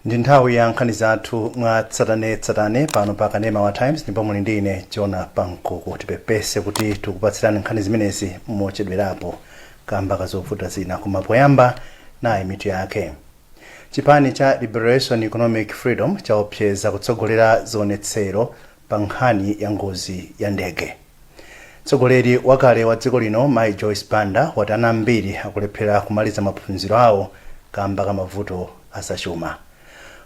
ndi nthawi ya nkhani zathu mwa tsatanetsatane pano pa kanema wa times ndipo muli ndi ine jona pankuku tipepese kuti tikupatsirani nkhani zimenezi mochedwerapo kamba ka zovuta zina koma poyamba nayi mitu yake chipani cha liberation economic freedom chaopseza kutsogolera zionetsero pa nkhani ya ngozi ya ndege. Mtsogoleri wakale wa dziko lino Mayi Joyce Banda wati ana ambiri akulephera kumaliza maphunziro awo kamba ka mavuto azachuma.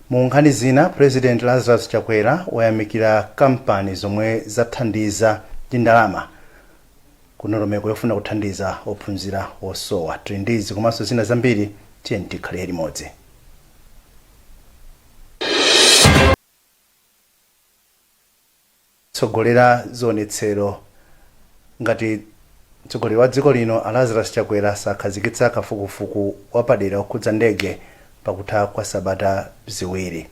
Mu nkhani zina, Purezidenti Lazarus Chakwera wayamikira kampani zomwe zathandiza ndi ndalama ku ndondomeko yofuna kuthandiza ophunzira osowa. Tili ndi izi komanso zina zambiri, tiyeni tikhale limodzi. tsogolera zionetsero ngati Mtsogoleri wa dziko lino a Lazarus Chakwera sakhazikitsa kafukufuku wapadera okhudza ndege pakutha kwa sabata ziwiri.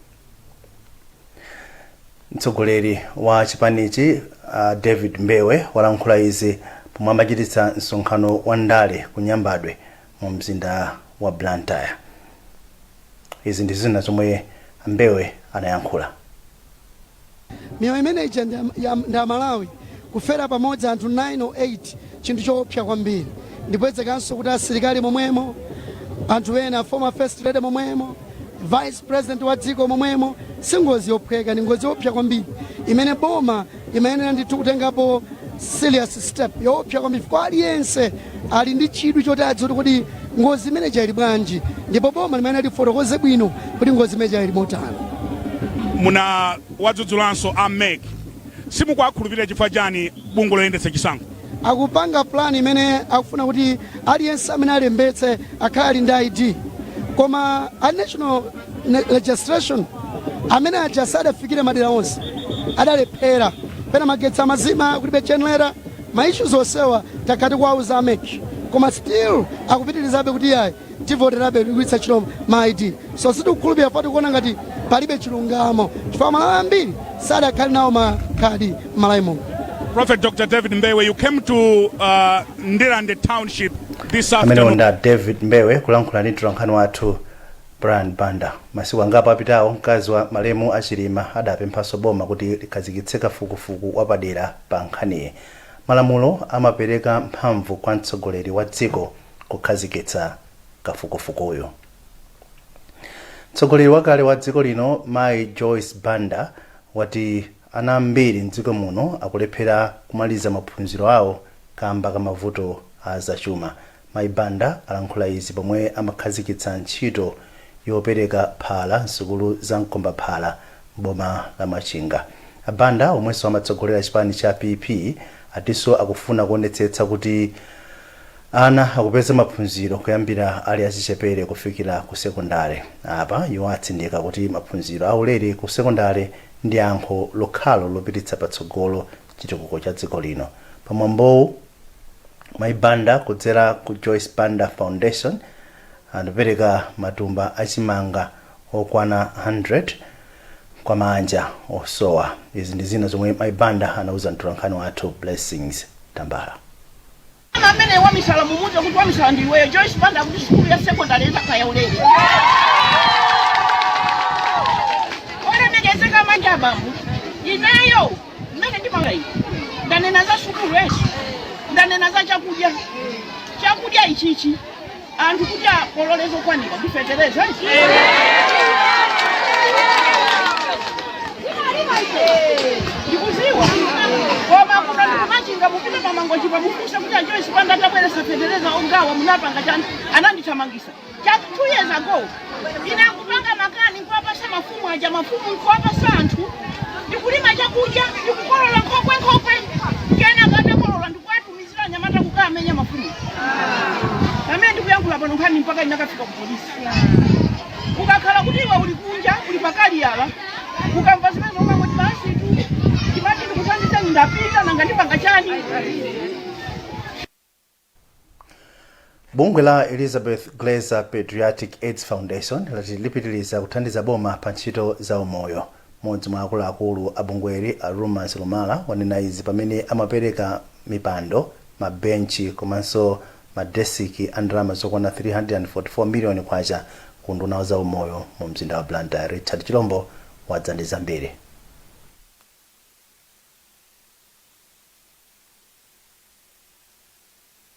Mtsogoleri wa chipanichi a David Mbewe walankhula izi pomwe amachititsa msonkhano wa ndale ku Nyambadwe mu mzinda wa Blantyre. Izi ndi zina zomwe a Mbewe anayankhula. miyoyo imene ija ndi aMalawi kufera pamodzi anthu 9 or 8 chinthu choopsa kwambiri ndi kuonjezekanso kuti asilikali momwemo anthu ena former first lady momwemo vice president wa dziko momwemo si ngozi yophweka ndi ngozi yoopsa kwambiri imene boma imayenera ndithu kutengapo serious step yoopsa kwambiri chifukwa aliyense ali ndi chidwi choti adziwe kuti kodi ngozi imene ija ili bwanji ndipo boma limayenera lifotokoze bwino kuti ngozi imene ija ili motani mwawadzudzulanso a mec simukuwakhulupirira chifukwa chani bungwe loyendetsa chisankho Akupanga plan imene akufuna kuti aliyense amene alembetse akhale ali ndi ID. Koma a National Registration amene aja sadafikire madera onse, adalephera. Pena magetsi amazima, kulibe generator, ma issues onsewa takhala tikuwauza a mec koma still akupitirizabe kuti iyayi. tivoterabe kugwiritsa ntchito ma id so sitikukhulupirira chifukwa tikuona ngati palibe chilungamo chifukwa amalawi ambiri sadakhale nawo makadi m'malawi muno ameneyo ndi a david mbewe kulankhula ndi mtolankhani wathu brian banda masiku angapo apitawo mkazi wa malemu a chilima adapemphanso boma kuti likhazikitse kafukufuku wapadera pa nkhaniyi malamulo amapereka mphamvu kwa mtsogoleri wa dziko kukhazikitsa kafukufukuyo. Mtsogoleri wakale wa dziko lino Mayi Joyce Banda wati ana ambiri m'dziko muno akulephera kumaliza maphunziro awo kamba ka mavuto a zachuma. Mayi Banda alankhula izi pomwe amakhazikitsa ntchito yopereka phala m'sukulu za mkombaphala m'boma la Machinga. A Banda omwenso amatsogolera chipani cha PP atinso akufuna kuonetsetsa kuti Ana akupeza maphunziro kuyambira ali achichepere kufikira ku sekondale. Apa iwo atsindika kuti maphunziro aulere ku sekondale ndi yankho lokhalo lopititsa patsogolo chitukuko cha dziko lino. Pa mwambowu, Mayi Banda kudzera ku Joyce Banda Foundation anapereka matumba a chimanga okwana 100 kwa maanja osowa. Izi ndi zina zomwe Mayi Banda anauza mtolankhani wathu Blessings Tambala. Koma amene wamisala mumuuze kuti wamisala ndi iweyo. Joyce Banda akuti sukulu ya sekondari izakhala yaulere. Olemekezeka manja apa. Ineyo mmene ndimanga iyi. Ndanena za sukulu izi. Ndanena za chakudya. Chakudya ichichi. anthu kuti akolole zokwanira ndi fetereza ndikuziwa koma kuno ndikumachinga mupite pamangochipa mufunse kuti a Joyce Banda atabweresa fetereza omagawa munapanga chani anandithamangisa cha two years ago ine nkupanga makani nkuwapasa mafumu aja mafumu nkuwapasa anthu ndikulima chakudya ndikukolola nkhokwe nkhokwe Tumizira anyamata kukamenya mafumu. Pamene ndikuyankhula pano nkhani mpaka inakafika ku polisi. Ukakhala kuti iwe uli kunja, uli pakali yala, ukamva zimenezo umati basitu, ndimati ndikuthandiza ndapita nanga ndipanga chani. Bungwe la Elizabeth Glaser Paediatric Aids Foundation lati lipitiliza kuthandiza boma pa ntchito za umoyo. M'modzi mwa akuluakulu a bungweli a Rumors Lumala wanena izi pamene amapereka mipando, ma benchi komanso ma desiki a ndalama zokwana K344 million ku unduna wa za umoyo mu mzinda wa Blantyre. Richard Chilombo wadza ndi zambiri.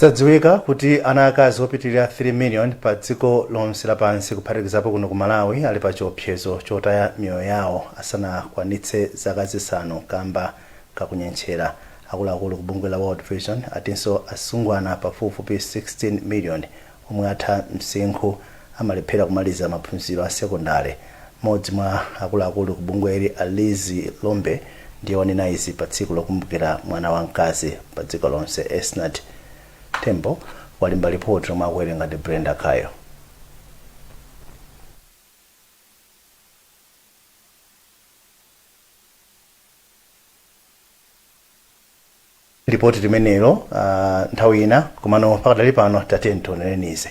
zadziwika kuti ana akazi opitirira 3 million pa dziko lonse lapansi kuphatikizapo kuno ku malawi ali pa chiopsezo chotaya miyoyo yawo asanakwanitse zaka zisanu kamba kakunyentchera akuluakulu ku bungwe la world vision atinso asungwana pafupifupi 16 million omwe atha msinkhu amalephera kumaliza maphunziro a sekondale. Mmodzi mwa akuluakulu ku bungweli a Lizzie Lombe ndiye wanena izi pa tsiku lokumbukira mwana wa mkazi pa dziko lonse. Esnart Tembo walemba lipoti lomwe akuwerenga ndi Brenda Kayo. lipoti limenelo uh, nthawi ina komano pakadali pano tatiyeni tionereni izi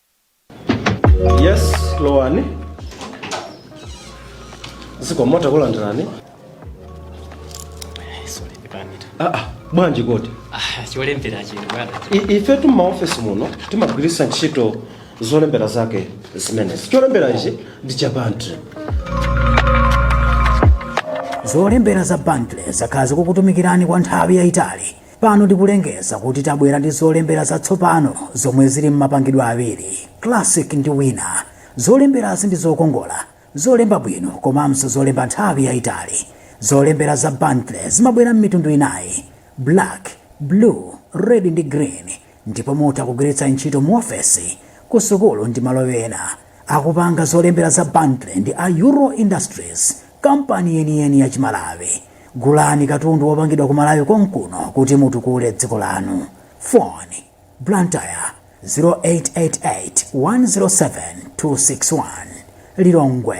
yes lowani zikomo takulandirani sorry ndipanita aa bwanji kodi ah cholembera chino bwana I- ife tu maofesi muno timagwiritsa ntchito zolembera zake zimenezi cholembera ichi ndi cha bantley zolembera za bantley zakhala zikukutumikirani kwa nthawi yayitali Pano tikulengeza kuti tabwera ndi zolembera zatsopano zomwe zili m'mapangidwe awiri, Classic ndi Winner. Zolemberazi ndi zokongola, zolemba bwino komanso zolemba nthawi yaitali. Zolembera za Bantley zimabwera m'mitundu inayi, Black, Blue, Red ndi Green ndipo mutha kugwiritsa ntchito muofesi, kusukulu ndi malo ena. akupanga zolembera za bantley ndi a euro industries kampani yeniyeni ya chimalawi gulani katundu wopangidwa ku malawi konkuno kuti mutukule dziko lanu foni blantyre 0888 107 261 lilongwe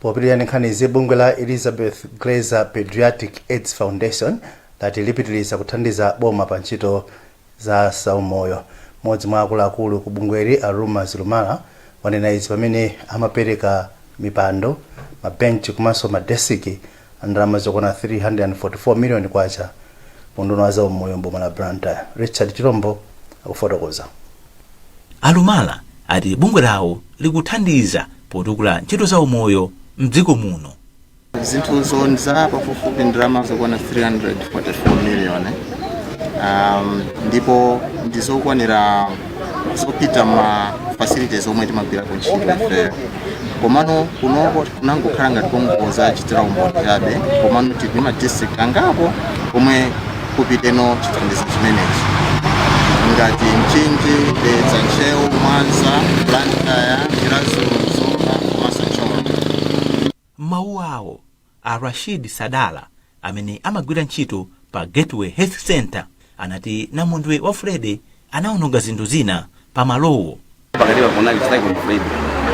popitiriza ndi nkhani izi bungwe la elizabeth glaser pediatric aids foundation lati lipitiriza kuthandiza boma pa ntchito za zaumoyo mmodzi mwa akuluakulu ku bungweli a ruma zilumala wanena izi pamene amapereka mipando mabenchi komanso madesiki a ndalama zokwana K344 miliyoni ku unduna wa zaumoyo m'boma la Blantyre. Richard Chirombo akufotokoza. A Lumala ati bungwe lawo likuthandiza potukula ntchito zaumoyo m'dziko muno. Zinthuzo ndi za pafupifupi ndalama zokwana K344 miliyoni ndipo ndi zokwanira zopita ma facilities omwe timagwirako ntchito ifeyo komano kunoko kunangokhala ngati kongodzachitira umboni chabe komano tili ndi ma district angapo komwe kupitenso chithandizo chimenechi ngati mchinji dedza ntcheu mwanza blantyre chiradzulu zomba komanso thyolo mawu awo A Rashid Sadala, amene amagwira ntchito pa Gateway Health Centre, anati namondwe wa Freddy anawononga zinthu zina pamalowo. Pakatipa kunali Cyclone Freddy.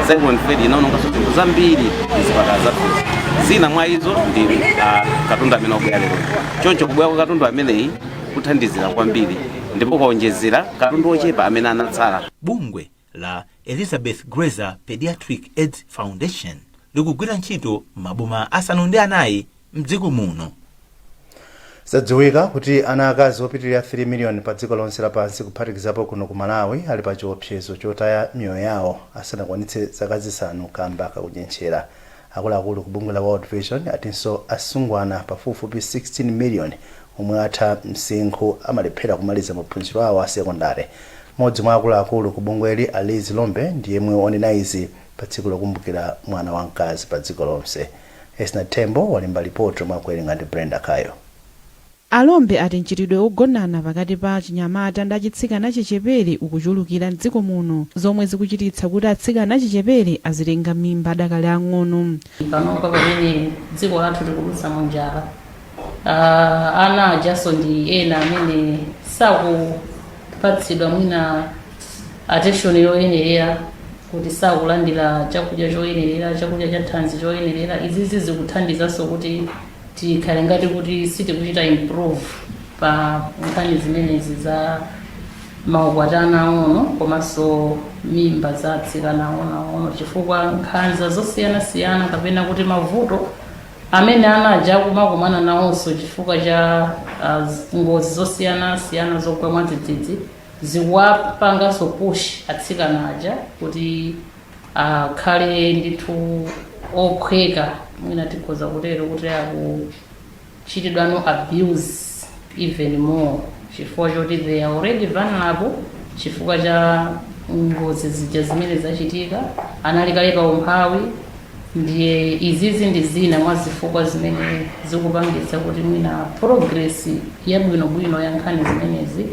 Cyclone Freddy inawononganso zinthu zambiri m'zipatala zathuzi. Zina mwa izo ndi ah, katundu amene wabwera lero. Choncho kubwera kwa katundu ameneyi kuthandizira kwambiri ndipo kuwonjezera katundu wochepa amene anatsala. Bungwe la Elizabeth Glaser Pediatric AIDS Foundation likugwira ntchito m'maboma asanu ndi anayi m'dziko muno. Zadziwika kuti ana akazi opitilira 3 million pa dziko lonse lapansi kuphatikizapo kuno ku Malawi ali pa chiopsezo chotaya miyoyo yawo asanakwanitse zaka zisanu kamba ka kunyentchera. Akuluakulu ku bungwe la World Vision atinso asungwana pafupifupi 16 million omwe atha msinkhu amalephera kumaliza maphunziro awo a sekondale. Mmodzi mwa akuluakulu ku bungweli a Liz Lombe ndi yemwe wanena izi pa tsiku lokumbukira mwana wa mkazi pa dziko lonse. Esnart Tembo walemba lipoti omwe akuwerenga ndi Brenda Kayo. A Lombe ati mchitidwe ogonana pakati pa achinyamata ndi achitsikana achichepere ukuchulukira m'dziko muno zomwe zikuchititsa kuti atsikana achichepere azitenga mimba adakali ang'ono. Panopa pamene dziko lathu likudutsa mu njala, ana ajanso ndi ena amene sakupatsidwa mwina attention yoyenerera kuti sakulandira chakudya choyenerera, chakudya cha thanzi choyenerera, izizi zikuthandizanso kuti. tikhale ngati kuti sitikuchita improve pa nkhani zimenezi za maukwati a ana ang'ono komanso mimba za atsikana ang'onoang'ono chifukwa nkhanza zosiyanasiyana kapena kuti mavuto amene ana aja akumakumana nawonso chifukwa cha ah, z- ngozi zosiyanasiyana zogwa mwadzidzidzi zikuwapanganso push atsikana aja kuti akhale ndithu okhweka mwina tikhoza kutero kuti akuchitidwa no abuse even more chifukwa choti they are already vulnerable chifukwa cha ngozi zija zimene zachitika anali kale pa umphawi ndiye izizi ndi zina mwa zifukwa zimene zikupangitsa kuti mwina progress yabwinobwino ya nkhani zimenezi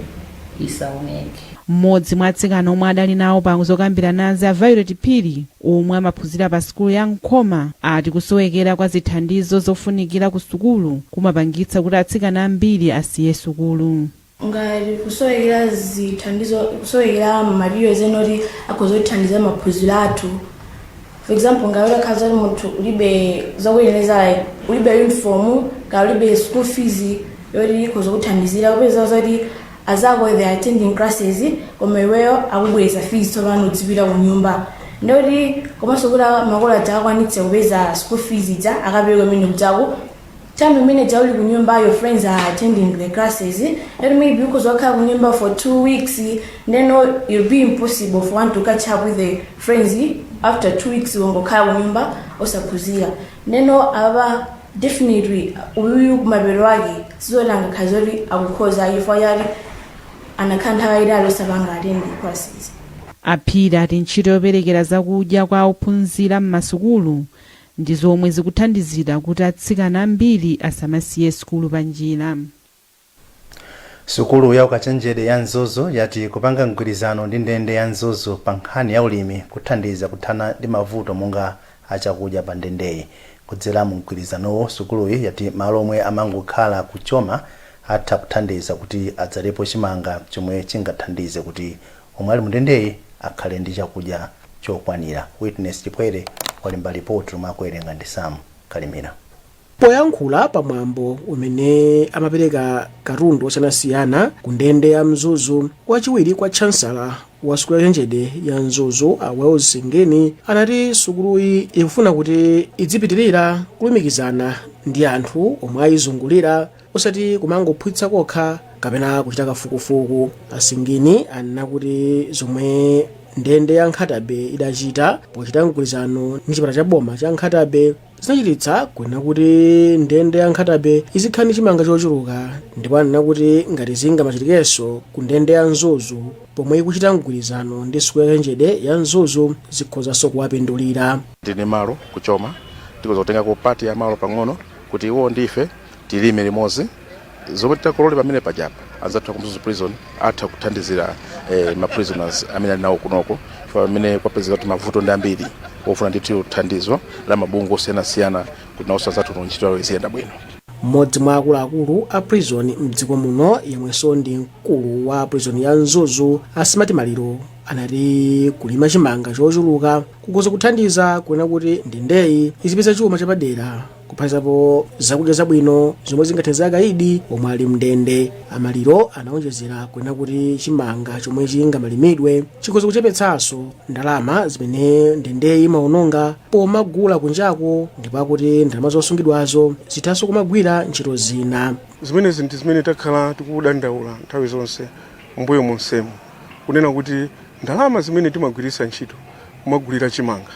isaoneke. M'modzi mwa atsikana omwe adali nawo pa zokambiranazi a Violet Phiri omwe amaphunzira pa sukulu ya Nkhoma ati kusowekera kwa zithandizo zofunikira ku sukulu kumapangitsa kuti atsikana ambiri asiye sukulu. Ngati kusowekera zithandizo, kusowekera ma materials ena oti akhoza kutithandiza maphunziro athu, for example ngati utakhala zoti munthu ulibe zokuyenereza like ulibe uniform kaya ulibe school fees yoti ikhoza kuthandizira kupeza zoti azako they are attending classes koma iweyo akubweza fees tsopano udzipita ku nyumba ndikuti komanso kuti makolo adzakwanitse kupeza school fees ija akapereke mmene mnzako time imene ija uli kunyumba your friends are attending the classes and maybe ukhoza wakhala kunyumba for two weeks then it'll be impossible for one to catch up with the friends after two weeks wangokhala kunyumba osaphunzira then apa definitely uyu kumapeto ake sizoti angakhale zoti akukhoza chifukwa choti anakhala nthawi yayitali osapanga attend the classes a Phiri ati ntchito yoperekera zakudya kwa ophunzira m'masukulu ndi zomwe zikuthandizira kuti atsikana ambiri asamasiye sukulu panjira. Sukulu ya ukachenjede ya Mzuzu yati kupanga mgwirizano ndi ndende ya Mzuzu pa nkhani ya ulimi kuthandiza kuthana ndi mavuto monga a chakudya pa ndendeyi. Kudzera mu mgwirizanowu, sukuluyi yati malo omwe amangokhala ku Choma atha kuthandiza kuti adzalepo chimanga chomwe chingathandize kuti omwe ali mundendeyi akhale ndi chakudya chokwanira, Witness Chipwere walemba lipoti lomwe akuwerenga ndi Sam Kalimira. Poyankhula pa mwambo umene amapereka katundu osiyanasiyana ku ndende ya Mzuzu, wachiwiri kwa Chansala wa sukulu ya ukachenjede ya Mzuzu a Wales Singini anati sukuluyi ikufuna kuti idzipitirira kulumikizana ndi anthu omwe ayizungulira osati kumangophunzitsa kokha kapena kuchita kafukufuku a Singini anena kuti zomwe ndende ya nkhatabe idachita pochita mgwirizano ndi chipatala cha boma cha nkhatabe zinachititsa kunena kuti ndende ya nkhatabe izikhala ndi chimanga chochuluka ndipo anena kuti ngati zingamachitikenso ku ndende ya mzuzu pomwe ikuchita mgwirizano ndi sukulu ya ukachenjede ya mzuzu zikhozanso kuwapindulira tili ndi malo ku choma tikhoza kutengako part ya malo pang'ono kuti iwo ndi ife tilime limodzi zomwe titakolole pamenepajapa anzathu aku mzuzu prison atha kuthandizira eh, ma prisoners amene ali nawo kunoko chifukwa pamene kwapezeka kuti mavuto ndi ambiri ofuna ndithu thandizo la mabungwe osiyanasiyana kuti nawonso anzathu kuno ntchito yawo iziyenda bwino mmodzi mwa akuluakulu a prison mdziko muno yemwenso ndi mkulu wa prison ya mzuzu a Smart Maliro anati kulima chimanga chochuluka kukhoza kuthandiza kunena kuti ndendeyi izipeza chuma chapadera kuphatikizapo zakudya zabwino zomwe zingathandize akaidi omwe ali mndende a Maliro anawonjezera kunena kuti chimanga chomwe chingamalimidwe chikhoza kuchepetsanso ndalama zimene ndendeyi imawononga pomagula kunjako ndipo akuti ndalama zosungidwazo zithanso kumagwira ntchito zina zimenezi ndi zimene takhala tikudandaula nthawi zonse m'mbuyo monsemu kunena kuti ndalama zimene timagwiritsa ntchito kumagulira chimanga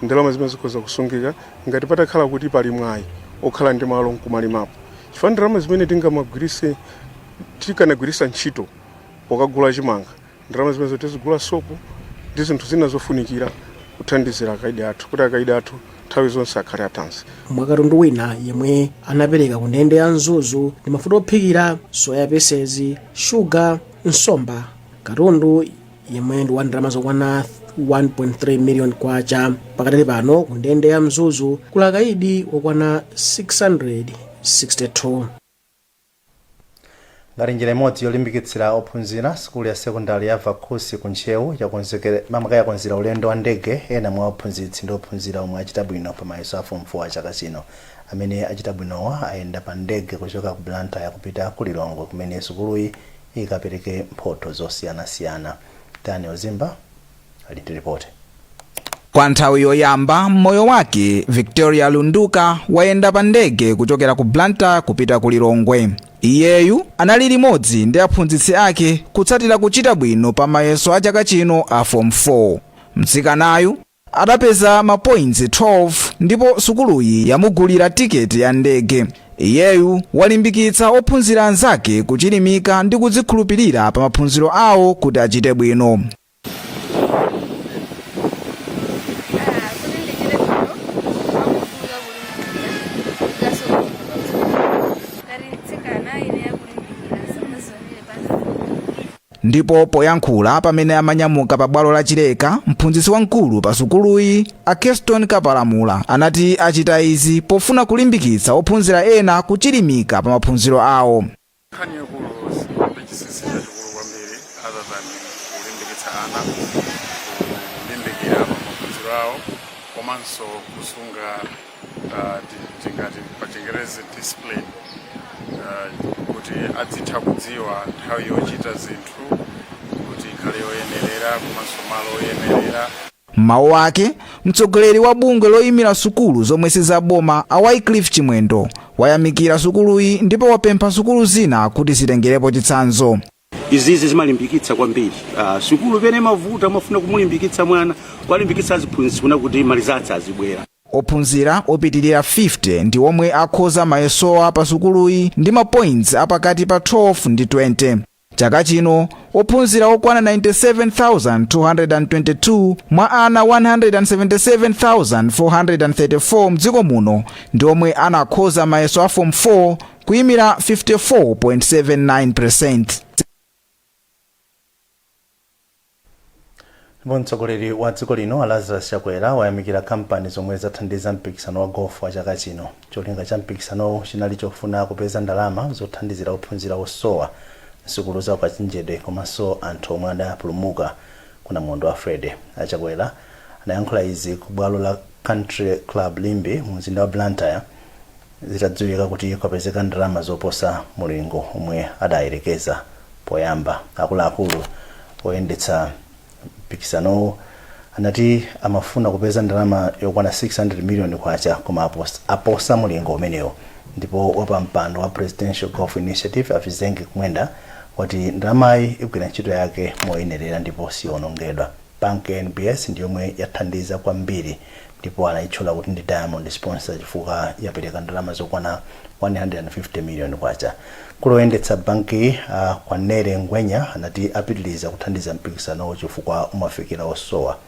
Ndalama zimenezi zikhoza kusungika ngati patakhala kuti pali mwayi okhala ndi malo nkumalimapo chifukwa ndalama zimene tikanagwirisa ntchito pokagula chimanga ndalama zimenezo tizigula sopo ndi zinthu zina zofunikira kuthandizira akaidi athu kuti akaidi athu nthawi zonse akhale athanzi. Mwa katundu wina yemwe anapereka ku ndende ya Mzuzu ndi mafuta ophikira, soya pieces, sugar, nsomba, katundu. yemwe ndi wa ndalama zokwana 1.3 miliyoni kwacha pakadali pano ku ndende ya mzuzu kuli akaidi okwana 662 ngati njira imodzi yolimbikitsira ophunzira sukulu ya sekondari ya vakhusi ku ntcheu yakonzera ulendo wa ndege ena mwa aphunzitsi ndi ophunzira omwe achita bwino pa mayeso a fomu 4 a chaka chino amene achita bwinowa ayenda pa ndege kuchoka ku blantyre kupita ku lilongwe kumene sukuluyi ikapereke mphotho zosiyanasiyana. Daniel Zimba ali ndi lipoti. Kwa nthawi yoyamba m'moyo wake, Victoria Lunduka wayenda pa ndege kuchokera ku Blantyre kupita ku Lilongwe. Iyeyu anali limodzi ndi aphunzitsi ake kutsatira kuchita bwino pa mayeso a chaka chino a Form 4. Mtsikanayu Adapeza ma points 12 ndipo sukuluyi yamugulira tiketi ya ndege. Iyeyu walimbikitsa ophunzira anzake kuchilimika ndi kudzikhulupirira pa maphunziro awo kuti achite bwino. Ndipo poyankhula pamene amanyamuka pa bwalo la Chileka, mphunzitsi wamkulu pa sukuluyi a Keston Kapalamula anati achita izi pofuna kulimbikitsa ophunzira ena kuchilimika pa maphunziro awo. nkhani yaikulu sipali chinsinsi chachikulu kwambiri other than kulimbikitsa ana kulimbikira pa maphunziro awo komanso kusunga ah, ti- tingati pachingerezi discipline ah, kuti adzitha kudziwa nthawi yochita zinthu kuti ikhale yoyenerera komanso malo oyenerera m'mawu ake mtsogoleri wa bungwe loyimira sukulu zomwe sizaboma a wycliffe chimwendo wayamikira sukuluyi ndipo wapempha sukulu zina kuti zitengerepo chitsanzo izizi zimalimbikitsa kwambiri uh, sukulu pene mavuta umafuna kumulimbikitsa mwana kuwalimbikitsa aziphunzitsi kuona kuti ma results azibwera ophunzira opitirira 50 ndi omwe akhoza mayesowa pa sukuluyi ndi mapoints apakati pa 12 ndi 20 chaka chino ophunzira okwana 97222 mwa ana 177434 mdziko muno ndi omwe anakhoza mayeso a form 4 kuimira 54.79%. ndipo mtsogoleri wa dziko lino a lazarus chakwera wayamikira kampani zomwe zathandiza mpikisano wa gofu wa chaka chino cholinga cha mpikisanowu chinali chofuna kupeza ndalama zothandizira ophunzira osowa msukulu za ukachenjede komanso anthu omwe adapulumuka ku namondwe wa freddy achakwera anayankhula izi ku bwalo la country club limbe mu mzinda wa blantyre zitadziwika kuti kwapezeka ndalama zoposa mulingo omwe adayerekeza poyamba. Akuluakulu oyendetsa mpikisanowu anati amafuna kupeza ndalama yokwana K600 miliyoni koma aposa mulingo umenewo ndipo wapampando wa Presidential Golf Initiative a Vizenge Kumwenda wati ndalamayi igwira ntchito yake moyenerera ndipo siyoonongedwa. Bank NBS ndi yomwe yathandiza kwambiri ndipo anayitchula kuti ndi Diamond Sponsor chifukwa yapereka ndalama zokwana K150 million. Mkulu oyendetsa bankiyi a Kwanele Ngwenya anati apitiliza kuthandiza mpikisanowu chifukwa umafikira osowa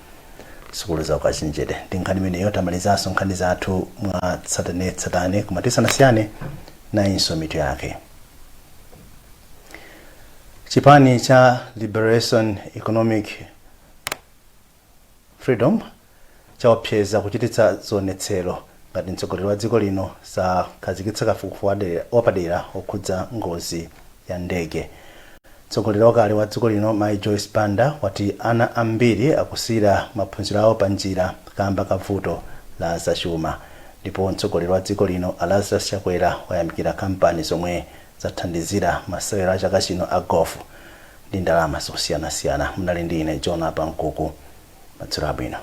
sukulu za ukachenjede. Ndi nkhani imeneyo tamalizanso nkhani zathu mwatsatanetsatane koma tisanasiyane nayinso mitu yake. chipani cha liberation economic freedom chaopseza kuchititsa zionetsero ngati mtsogoleri wa dziko lino sakhazikitsa kafukufuku wapadera okhudza ngozi ya ndege mtsogoleri wakale wa dziko lino mai joyce banda wati ana ambiri akusiyira maphunziro awo panjira kamba ka vuto la zachuma ndipo mtsogoleri wa dziko lino a lazarus chakwera wayamikira kampani zomwe zathandizira masewero a chaka chino a Golf ndi ndalama zosiyanasiyana. Munali ndi ine Jonah Pankuku. Madzulo abwino.